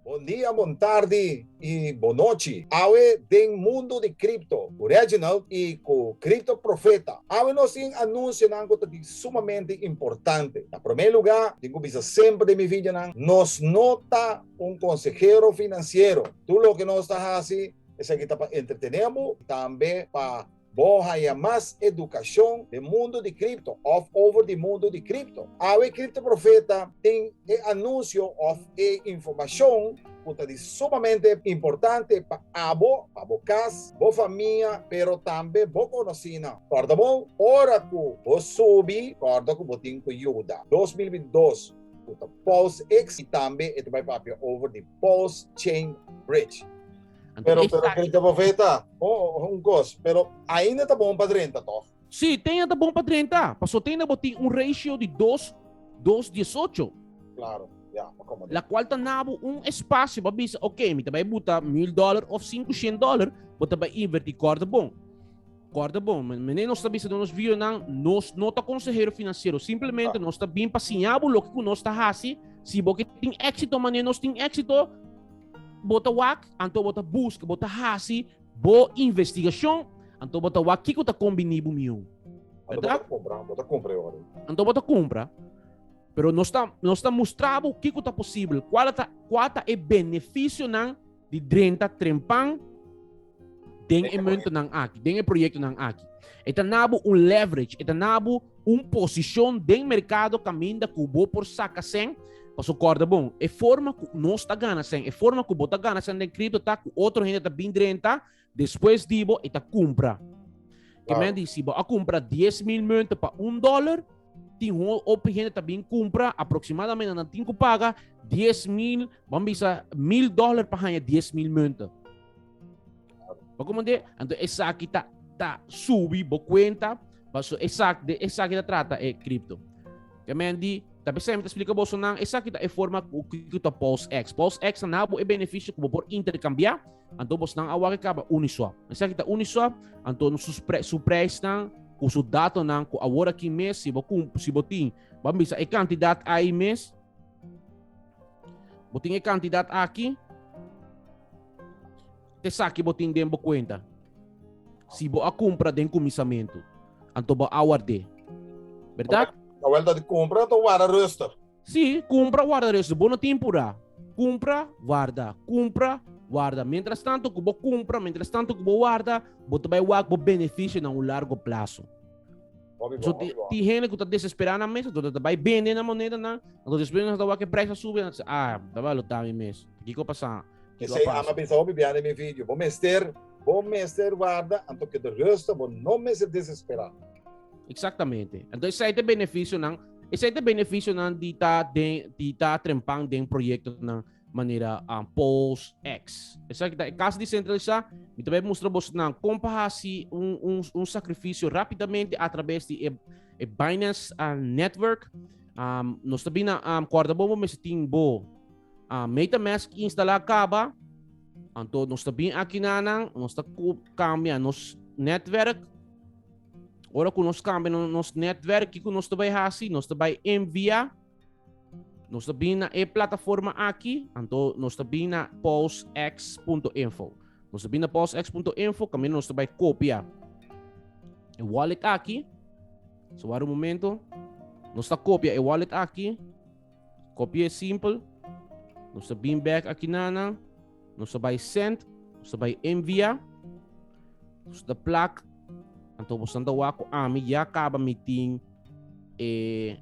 Bon dia, bon tardi y bon nochi. Awe den mundo di cripto cu Reginald y cu Crypto Profeta. Awe nos tin anunsionan cu ta di sumamente importante. Na prome luga, tin cu bisa semper den mi videonan, nos no ta un consehero financiero. Tur loke nos ta haci esaki ta pa entretene bo y tambe pa. Bo haña mas edukashon den mundu di kripto òf over di mundu di kripto? Awe e kriptoprofeta tin e anunsio òf e informashon ku ta di sumamente importante pa abo, pa bo kas, bo famia, pero tambe bo konosínan. Kòrda bo, ora ku bo subi, kòrda ku bo tin ku yuda. Dos mil bintidós ku ta PulseX i tambe e ta bai papia over di Pulse Chain Bridge. Anto pero, pero kere ta profeta, oh, un kos, pero ainda ta bon pa 30 toch? Si, ten ainda bon pa 30, paso ten na botin un ratio di 2, 2, 18. Claro. Yeah, la cual ta nabo un espacio para bisa, ok, mi te vai buta mil dólar of 500 dólar, bo te vai invertir corda bon. Kòrda bon, menen nos ta bisa den nos videonan, nos no ta konsehero finansiero. Simplemente nos ta bin pa siña bo loke ku nos ta hasi. Si bo ke tin éksito manera nos tin éksito, bo ta wak, anto bo ta buska, bo ta hasi bo investigashon, anto bo ta wak kiko ta kombiní bo miun. Bèrdad? Bo ta kumpra e ora ei. Anto bo ta kumpra. Pero nos ta nos ta mustra bo kiko ta posibel, kua ta kua ta e benefisionan di drenta trempan den e momento nan aki, den e proyecto nan aki. Eta nabu un leverage, eta nabu un posicion den mercado caminda cu bo por saca sen, paso corda bon, e forma cu nos ta gana sen, e forma cu bo ta gana sen den cripto ta cu otro hende ta bin drenta, Despues di bo, e ta cumpra. Wow. Que men di, si bo a cumpra 10 mil munten pa un dólar, tin ho op gente ta bin cumpra aproximadamente na tin paga 10 mil, vamos bisa mil dólar pa hanya 10 mil munten. Pa como de, então esa aqui tá tá subi bo cuenta, paso esa de esa aqui tá trata é cripto. Que men di, tá pensando tá explica bolso não, esa aqui tá é forma que que tá pulse x. Pulse x na nabo é benefício que por intercambiar Anto bosnan a wak kaba Uniswap. Esaki ta Uniswap, anto no su, pre, su prijsnan, ku su datonan, ku awor aki mes, si bo, kum, si bo tin, ban bisa e kantidat ai mes, bo tin e kantidat aki, te saki bo tin den bo kuenta. Si bo a kumpra den kuminsamentu, anto bo a ward'é. Berdad? Kawel ta di kumpra, anto wara rustig. Sí, kumpra warda resto. Bo no tin purá. Kumpra, warda. Kumpra, warda. Mientras tanto ku bo kumpra, mientras tanto ku bo warda, bo ta bai wak bo benefisionan un largo plaso. So ti, ti hende ku ta desesperá nan mes, anto ta bai bende nan monedanan, anto despues nan ta wak e prijs a subi, nan ta se, ah, tabata lo tami mes. Kiko a pasá? Kiko a Esei ama pasa? bisa hopi bia den mi video. Bo mester, bo mester warda, anto keda rusto, bo no mester desesperá. Exactamente. Anto esei ta e benefisionan Esei te beneficionan di ta, den, di ta trempan den proyecto nan manera um, Post X. Esa kita e casa decentralisa, mi ta bai mustra bos nan compa hasi un, un, un sacrificio rapidamente a través di e, e Binance uh, Network. Um, nos ta bina um, corda bo, bo mesti tin bo uh, MetaMask instala caba. Anto nos ta bin aki nanan, nos ta cambia nos netwerk Ora ku nos kambia no, nos netwerk, kiko nos ta bai hasi? Nos ta bai envia, nos ta bin na e plataforma aki, anto nos ta bin na pulsex.info. Nos ta bin na pulsex.info, kami nos ta bai kopia e wallet aki. So wara un momento, nos ta kopia e wallet aki. Kopia e simpel, nos ta bin bek aki nana, nos ta bai send, nos ta bai envia, nos ta plak, anto bos anda wa ku ami ya kaba mi tin e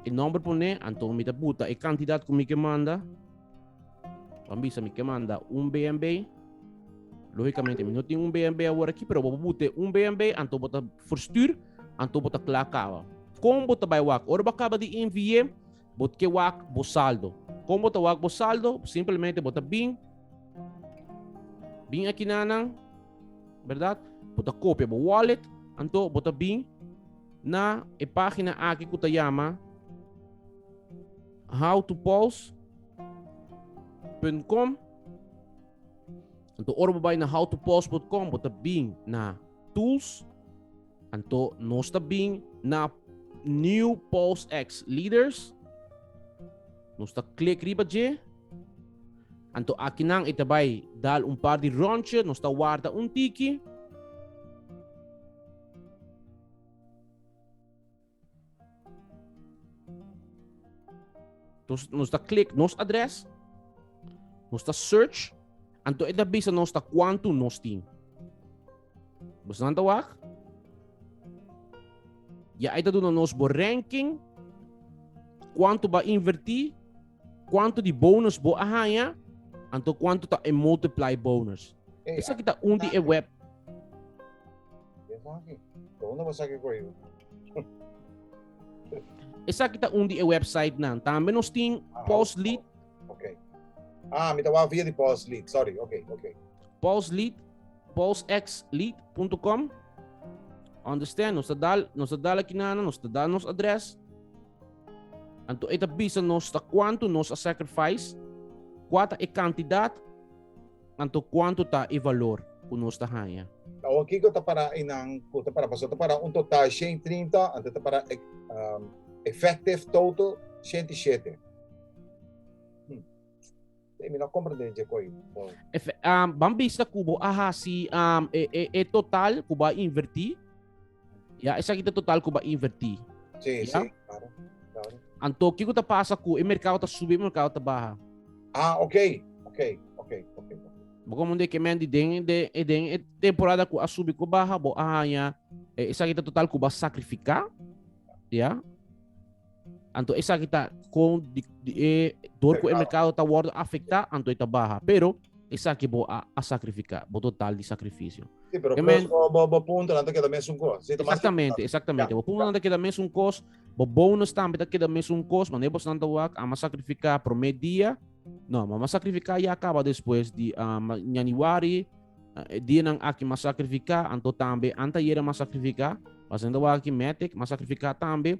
nomber pone, anto mi ta buta e kantidat ku mi ke manda, Bo a bisa mi ke manda un BNB. Lógicamente, mi no tin un BNB awor aki, pero bo bute un BNB, anto bo ta verstuur, anto bo ta kla kaba. Kon bo ta bai wak? Ora bo kaba di envié, bo ke wak bo saldo. Kon bo ta wak bo saldo? Simplemente bo ta bin, bin aki na nan, berdad? Bo ta kopia bo wallet, anto bo ta bin na e página aki ku ta yama howtopause.com Anto ora bo bai na howtopause.com bo ta bin na tools anto nos ta bin na new pause x leaders nos ta klik riba dje anto akinan e ta bai dal un par di rondje nos ta warda un tiki Entonces, nos ta click nos adres, nos ta search, anto e ta bisa nos ta cuanto nos tin. Bus nan ta wak? Ya e ta duna nos bo ranking, cuanto ba inverti, cuanto di bonus bo a haya, anto cuanto ta e multiply bonus. Esa kita un di e web Esaki ta un di e website nan. Tambe nos tin ah, Pulse Lead. Ok. Ah, mi ta wou via di Pulse Lead. Sorry. Ok, ok. Pulse Lead, pulsexlead.com. Understand? Nos ta dal, nos ta dal aqui nana, nos ta dal nos adres. Anto eta bisa nos ta quanto nos a sacrifice, quata e cantidad Anto kuantu ta e valor ku nos ta haña? Awor kiko ta para einan ku ta para? Pasobra ta para un total di shenti trinta, anto ta para effective total shenti shete. Hm, mi no a komprende dje koi. Ban bisa ku bo a hasi e total ku bo a inverti. Ya, esaki ta total ku ba invertí. Sí, ya? sí, claro. claro. Anto, kiko ta pasa ku e merkado ta subi, e merkado ta baha? Ah, ok, ok, ok, ok. Bo komo de kemen di den, de, e den e temporada ku a subi ku baha, bo a haña, eh, esaki ta total ku ba sakrifiká, ya? Anto esaki ta kon di, di e dor ku e merkado ta wòrdu afektá, anto e ta baha. Pero esaki bo a, a sakrifiká, bo total di sakrifisio. Sí, pero Amen. cos bo, bo, bo punto nan ta keda mesun cos. Sí, ta mas Exactamente, importante. exactamente. Ya, Bo punto ya. nan ta keda mesun kos, bo bonus tambe ta keda mesun kos, mané bo santa wak, ama sakrifiká promé dia, no, mama sakrifiká ya kaba despues di ah, ma- januari, ah, e dia nan aki ma sakrifiká, anto tambe antayera ma sakrifiká, pasando wak aki metek ma sakrifiká tambe,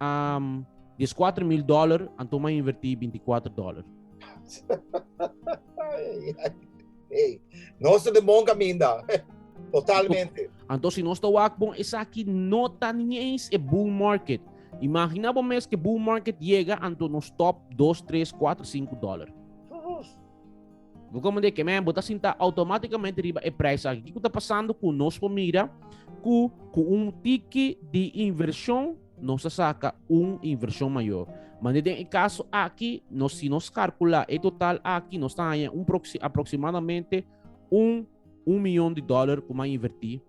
Um, di es 4 mil dollar, Antoma inverti 24 dollar. hey, no se de bon caminda. Totalmente. Anto si no está wak bon, es aquí no está ni eens e bull market. Imagina vos mes que bull market llega, anto no stop 2, 3, 4, 5 dollar. Bo komende ke men, bo ta sinta automáticamente riba e prijs aki. Kiko ta pasando ku nos por mira ku ku un tiki di invershon nos ta saka un invershon mayor. Mande den e kaso aki, nos si nos karkula e total aki, nos ta haña un aproximadamente un un mion di dólar ku mi a invertí,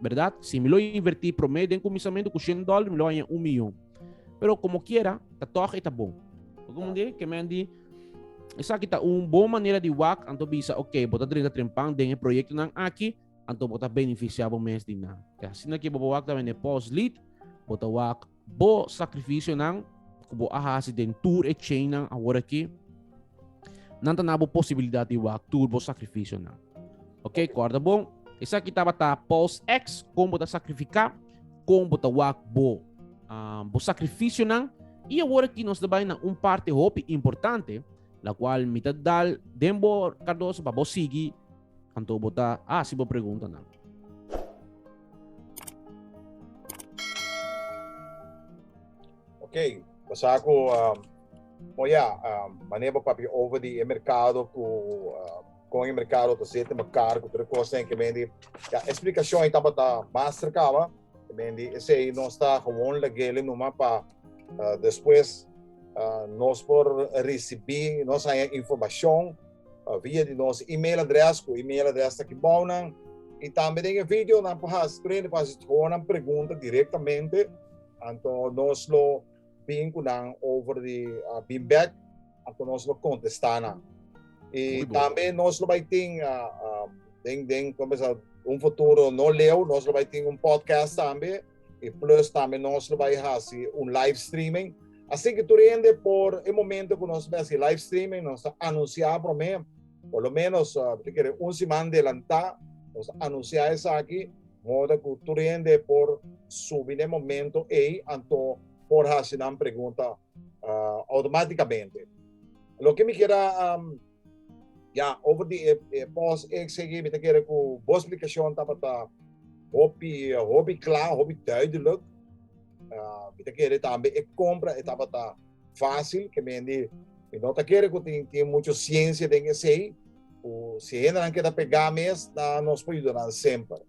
bèrdat? Si mi lo invertí promé den kuminsamentu ku shen dólar, mi lo haña un mion. Pero komokiera, ta tòg e ta bon. Bo komprendé? Ke men di, esaki ta un bon manera di wak, anto bisa, oke, bo ta drenta trempan den e proyektonan aki, anto bo ta benefisiá bo mes di nan. Te asina ke bo ta wak tambe n'e pòs-lid, bo ta wak Bo sakrifisionan ku bo a hasi den tur e cheinan aworakí, nan ta na bo posibilidat di wak tur bo sakrifisionan. Ok, kòrda bon, esaki tabata Paul's X, kon bo ta sakrifiká, kon bo ta wak bo, uh, bo sakrifisionan, i aworakí nos ta bai na un parti hopi importante, la kual mi ta dal den bo, Cardoso, pa bo sigi Anto bo ta hasi bo preguntanan. Okay, basa ku um, oh ja, um, maneer bo papia over di e merkado ku uh, kon e merkado ta zete mekaar ku tere kosten ke mendi ja explikashon i tabata mas serkaba ke mendi esei no sta gewoon lagele numa pa uh, despues uh, nos por risibi nos aya informashon pa via di nos email adres ku email adres ta aki bou nan i tambe den e video nan por hasi training por hasi honan pregunta directamente anto nos lo bin ku nan over di uh, bin back anto nos lo contesta nan i tambe nos lo bai tin uh, uh, den den começar un futuro no leu nos lo bai tin un podcast tambe e plus tambe nos lo bai hasi un live streaming Así que tur hende por e momento cu nos mes y live streaming nos a anuncia prome, por lo menos te kere un siman delanta nos a anuncia esaki modo cu tur hende por subi n'e momento ey anto por haci nan pregunta automaticamente. Loke mi keda. Ya, over di e, e pos XG, mi ta kere ku bo splikashon tabata hopi, hopi kla, hopi duidelik. Uh, mi ta kere tambe e kompra e tabata fácil, ke mendi, mi no ta kere ku tin, tin mucho siensia den esei, ku si hendenan keda pegá mes, na nos po yudanan semper.